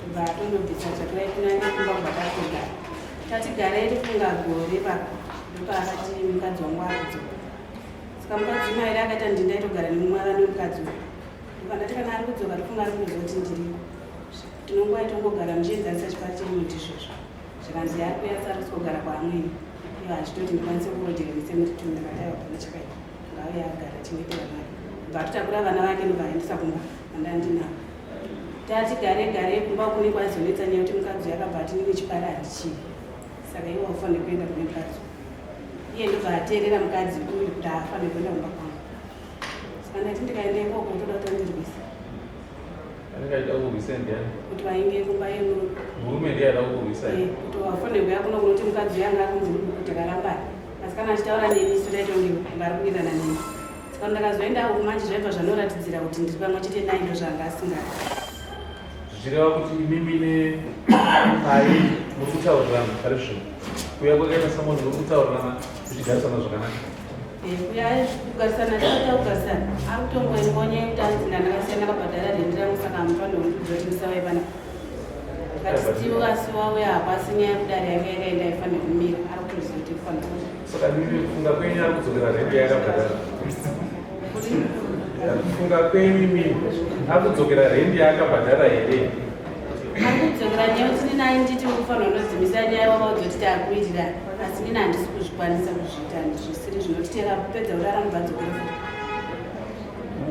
Kubva atondobvisa tsvakirai kunani kumba kwakatoga. Tati garai rifunga gore pa ndopaakati mukadzi wangu akudzo. Saka mukadzi mairi akaita ndinda itogara nemumwara nemukadzi uyu. Ndokandati kana ari kudzoka rifunga ari kuzozi kuti ndiriko. Tinonguva itongogara muchienzanisa chipari chemuti izvozvo. Zvikanzi yaari kuyasa ari kuzogara kwaamweni. Ivo achitoti ndikwanise kurodhera misemutitumira dai wapana chakaita. Ngauye agare tingetera mari. Bva tutakura vana vake ndovaendesa kumba andandinavo. Tati gare gare kumba kune kwazonetsa nyaya kuti mukadzi yakabva ati nini chipara handichii. Saka iwe wafane kuenda kune mukadzi. Iye ndobva ateerera mukadzi uyu kuti haafane kuenda kumba kwangu. Saka ndati ndikaenda ikoko utoda kutondirwisa. Andikaita kurwisa ndiani? Kuti vainge kumba yemurume. Murume ndiye aida kukurwisa. Eh, kuti wafonerwa yakuno kunoti mukadzi yanga akunzi kuti karambana. Asi kana achitaura neni isu taita kunge vari kuwirirana neni. Saka ndakazoenda uku manje zvaibva zvanoratidzira kuti ndiri pamwe chete naye ndozvanga asingadi. Zvichireva kuti imimi ne pai muri kutaurirana pari zvino. Kuya kwakaita samoni muri kutaurirana zvichigarisana zvakanaka. kugarisana chaita kugarisana akutongoingonya yekutandina ndakasiyana kabhadhara rendi rangu saka hamupanda undidzorisa vaivana katisiwo kasi wawe hapo asi nyaya yekudari yake yakaenda ifanira kumira ari kutoziva tikufanaakufunga kwenyu kufunga kwenyu imi akudzokera rendi yaakabhadhara here akudzokera nyaya kuti ninayi nditi ukufanira unodzimisa nyaya wakaudza kuti taakuitirani asi nina handisi kuzvikwanisa kuzviita ndisiri zvinotitera kupedza kurara mubvadzokera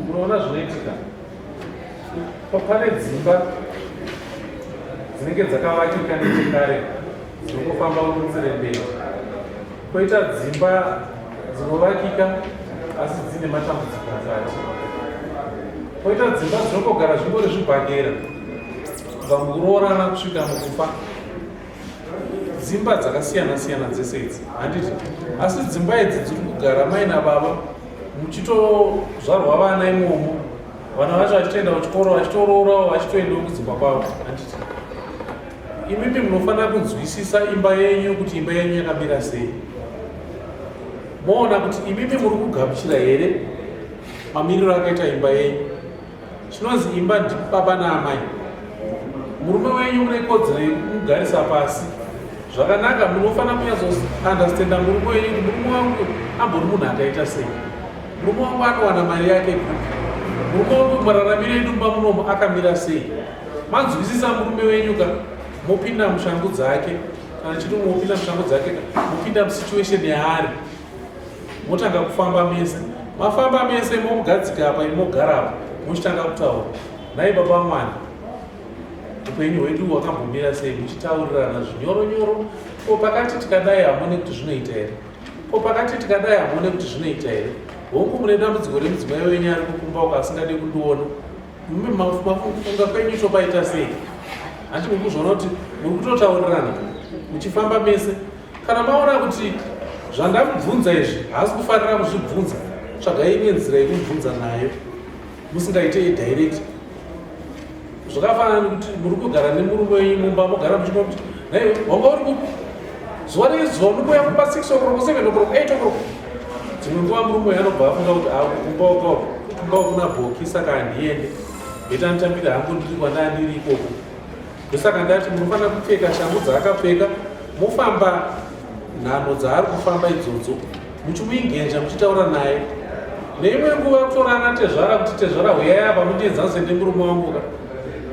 unoona zvinoitika pane dzimba dzinenge dzakavakika nechekare dzinongofamba kunzire mberi koita dzimba dzinovakika asi dzine matambudziko mukati koita dzimba dzinongogara zvingori zvibhagera vamwe kuroorana kusvika mukufa dzimba dzakasiyana siyana dzese idzi handiti asi dzimba idzi dziri kugara mai nababa muchitozvarwa vana imomo vana vacho vachitoenda kuchikoro vachitorourawo vachitoendawo kudzimba kwavo handiti imimi munofanira kunzwisisa imba yenyu kuti imba yenyu yakamira sei moona kuti imimi muri kugamuchira here mamiriro akaita imba yenyu chinonzi imba ndibaba naamai murume wenyu mune kodzero yekumugarisa pasi zvakanaka munofanira kunyatsounderstanda murume wenyu kuti murume wangu ambori munhu akaita sei murume wangu anowana mari yake kupi murume wangu mararamiro edu mba munomo akamira sei manzwisisa murume wenyu ka mopinda mushangu dzake kana chiti mopinda mushangu dzake ka mopinda musituation yaari motanga kufamba mese mafamba mese momugadzika apa imogara apa muchitanga kutaura nhai baba mwana upenyu hwedu hwakambomira sei muchitaurirana zvinyoro nyoro ko pakati tikadai hamone kuti zvinoita here ko pakati tikadai hamone kuti zvinoita here hongu mune dambudziko remudzimai wenyu ari kukumba uko asingade kundiona mume mafunga kwenyu topaita sei hanti mukuzvona kuti muri kutotaurirana muchifamba mese Kana maona kuti zvandamubvunza izvi haasi kufanira kuzvibvunza, tsvagai imwe nzira yekumubvunza nayo musingaite yedirect. Zvakafanana nekuti muri kugara nemurume wenyu mumba mogara muchinwa kuti naiwe wanga uri kupi zuva nezuva unouya kumba 6 o'clock 7 o'clock 8 o'clock dzimwe nguva murume uyo anobva afunga kuti akumba uka kumba ukuna bhoki saka handiende beta nditambira hangu ndiri kwandandiri ikoko ndosaka ndati munofanira kupfeka shangu dzaakapfeka mofamba nhamo dzaari kufamba idzodzo muchimuingenja muchitaura naye neimwe nguva kutorana tezvara kuti tezvara huyai apa mundienzanise nemurume wanguka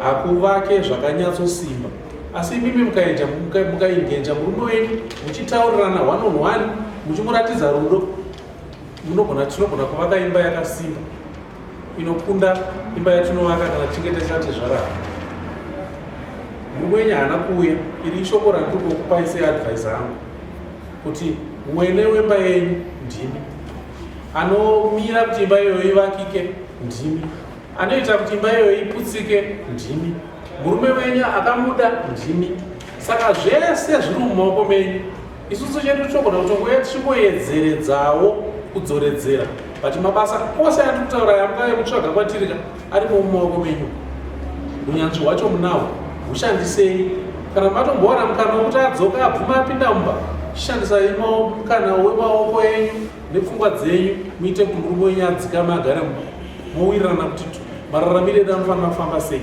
hakuvake zvakanyatsosimba asi imimi mukaenja mukaingenja murume wenyu muchitaurirana one on one muchimuratidza rudo tinogona kuvaka imba yakasimba inokunda imba yatinovaka kana tichinge tisati zvarara murume wenyu haana kuuya iri ishoko randiri kukupai seadvise angu kuti wene wemba yenyu ndimi anomira kuti imba iyoyo ivakike ndimi anoita kuti imba iyoyo iputsike ndimi murume wenyu akamuda ndimi saka zvese zviri mumaoko menyu isusu chedu tinogona kutongouya tichingoedzeredzawo kudzoredzera but mabasa ose ati kutaura yamukave kutsvaga kwatirika arimo mumaoko menyu unyanzvi hwacho munawo hushandisei kana matombowana mukana wekuti adzoka abvuma apinda mumba chishandisai mukana wemaoko enyu nepfungwa dzenyu muite kuti murume wenyu adzikame agare mumba mowirirana kuti mararamiro edu anofanira kufamba sei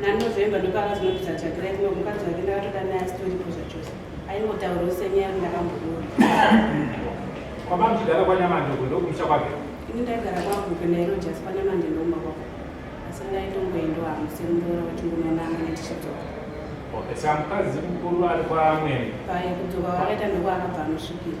nanovember ndopaakazonoti dzatsvakirai kuno mukadzi wake ndakatoda naye asitoripo zvachose aingotaurawo senyaya yake ndakamboona kwamamudara kwanyamandogo ndokumusha kwake ini ndaigara kwangu kenairo jasi kwanyamande ndomba kwako asi ndaitongoendawo hangu semuroora wachingononanga netichidzoka okay samukadzi mukuru ari kwamwene paye kudzoka wakaita ndokuakabva anosvikira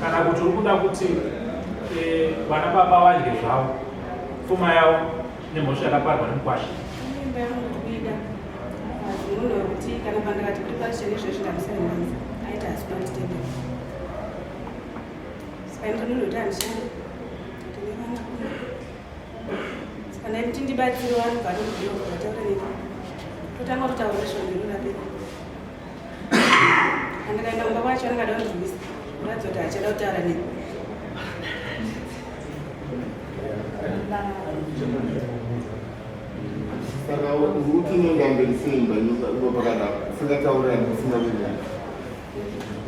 kana kuti uri kuda kuti eh, vana baba vadye zvavo pfuma yavo nemhosva yakaparwa nemukwasha kana kuti ndibatsire vanhu vanobvira kuvataura nei totanga kutaura zvondirurapei Andikaenda kumba kwacho angada kundirwisa. Ndadzoti achada kutaura neni. Saka uti unenge amberi sei imba ino pakadaro usingatauri ani usina kunyaya.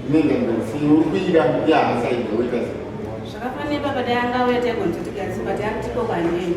Unenge amberi sei uri kuida yahasaida woita sei? Zvakafanira baba dai angauya taigonzoti kasi but akutiko kwandini.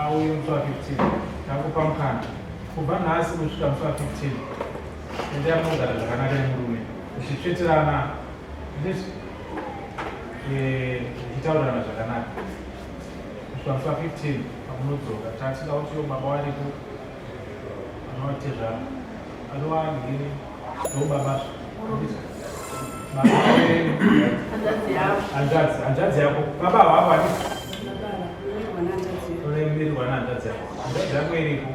Auye musi wa 15 ndakupa mukana kubva nhasi kusvika musi wa 15 endea munogara zvakanaka nemurume zvichitsveterana zvichitaurirana eh, zvakanaka kusvika musi wa 15 pamunodzoka tatisida kuti yo baba variko hanzvadzi yako baba hwavo ati uremerwa nehanzvadzi yako hanzvadzi yako iripo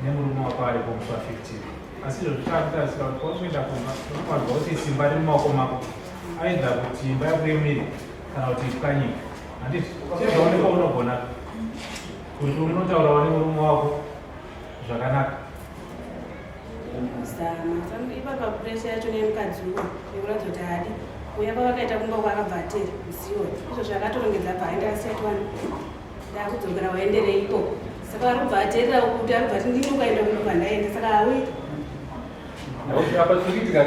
nemurume wako aripo mufa 15 asi izvo zvichakutarisa kuti kwakuenda kumba unofanirwa kuti simba riri mumaoko mako aidha kuti imba yakuremerwa kana kuti pwanyika handiti chezvaoneka unogona Kuti unotaurawo nemurume wako zvakanaka. Zama ipapa puresha yacho nemukadzi uwo nekuratidza kuti haadi uya pavakaita kumba kwaakabva atera ziwo izvo zvakatorongedza bva aenda asiyati wani ndakudzokera waendere ikoko saka ari kubva aterera kuti ari kubva ati ndini ukaenda kuno kwandaenda saka hauiti apa tiriitika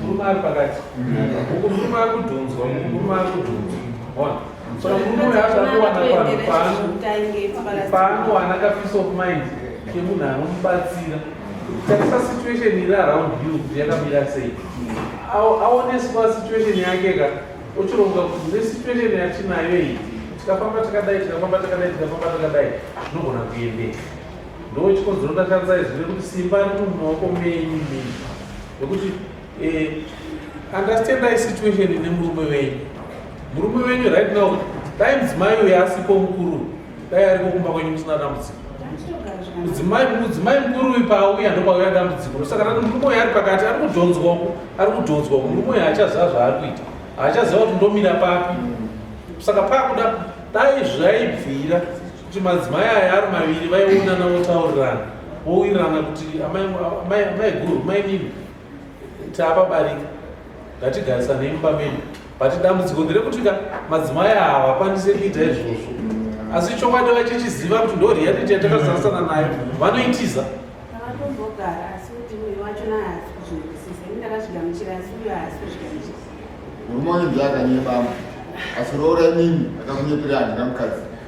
murume ari pakati uku murume ari kudhunzwa murume ari kudhunzwa ona so murume uyo azakuwana vanhu pano paanowana ka peace of mind kemunhu anomubatsira tarisa situation iri around you kuti yakamira sei aoneswa situation yake ka ochironga kuti nesituation yatinayo iyi tikafamba takadai tikafamba takadai tikafamba takadai zvinogona kuendeka Ndo chikonzero ndakadza izwi rekuti simba riri mumaoko menyu mii nekuti eh, understandai situation ine murume wenyu murume wenyu right now dai mudzimai uyo asipo mukuru dai ariko kumba kwenyu musina dambudziko mudzimai mudzimai mukuru uyu paauya ndopauya dambudziko ndosaka tati murume uyo ari pakati ari kudhonzwako ari kudhonzwako murume uyo haachaziva zvaari kuita haachaziva kuti ndomira papi saka pakuda dai zvaibvira kuti madzimai aya ari maviri vaionana votaurirana vowirirana kuti amai guru mai nini taapabarika ngatigarisanei mumba medu but dambudziko nderekuti ka madzimai aya havakwanise kuita izvozvo asi chokwadi vachichiziva kuti ndo reality yatakasarisana nayo vanoitiza murume wenzi akanyebama asi roora imimi akakunyepereandina mukadzi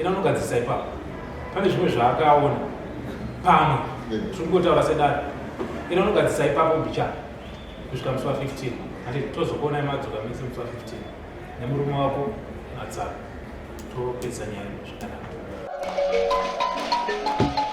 Ina unogadzirisa ipapo. Pane zvimwe zvaakaona. Pamwe. Tiri kungotaura sedare. Ina unogadzirisa ipapo mbicha. Kusvika musi wa 15. Ati tozokuona imadzoka mese musi wa 15. Nemurume wako matsaka. Topedza nyaya zvakanaka.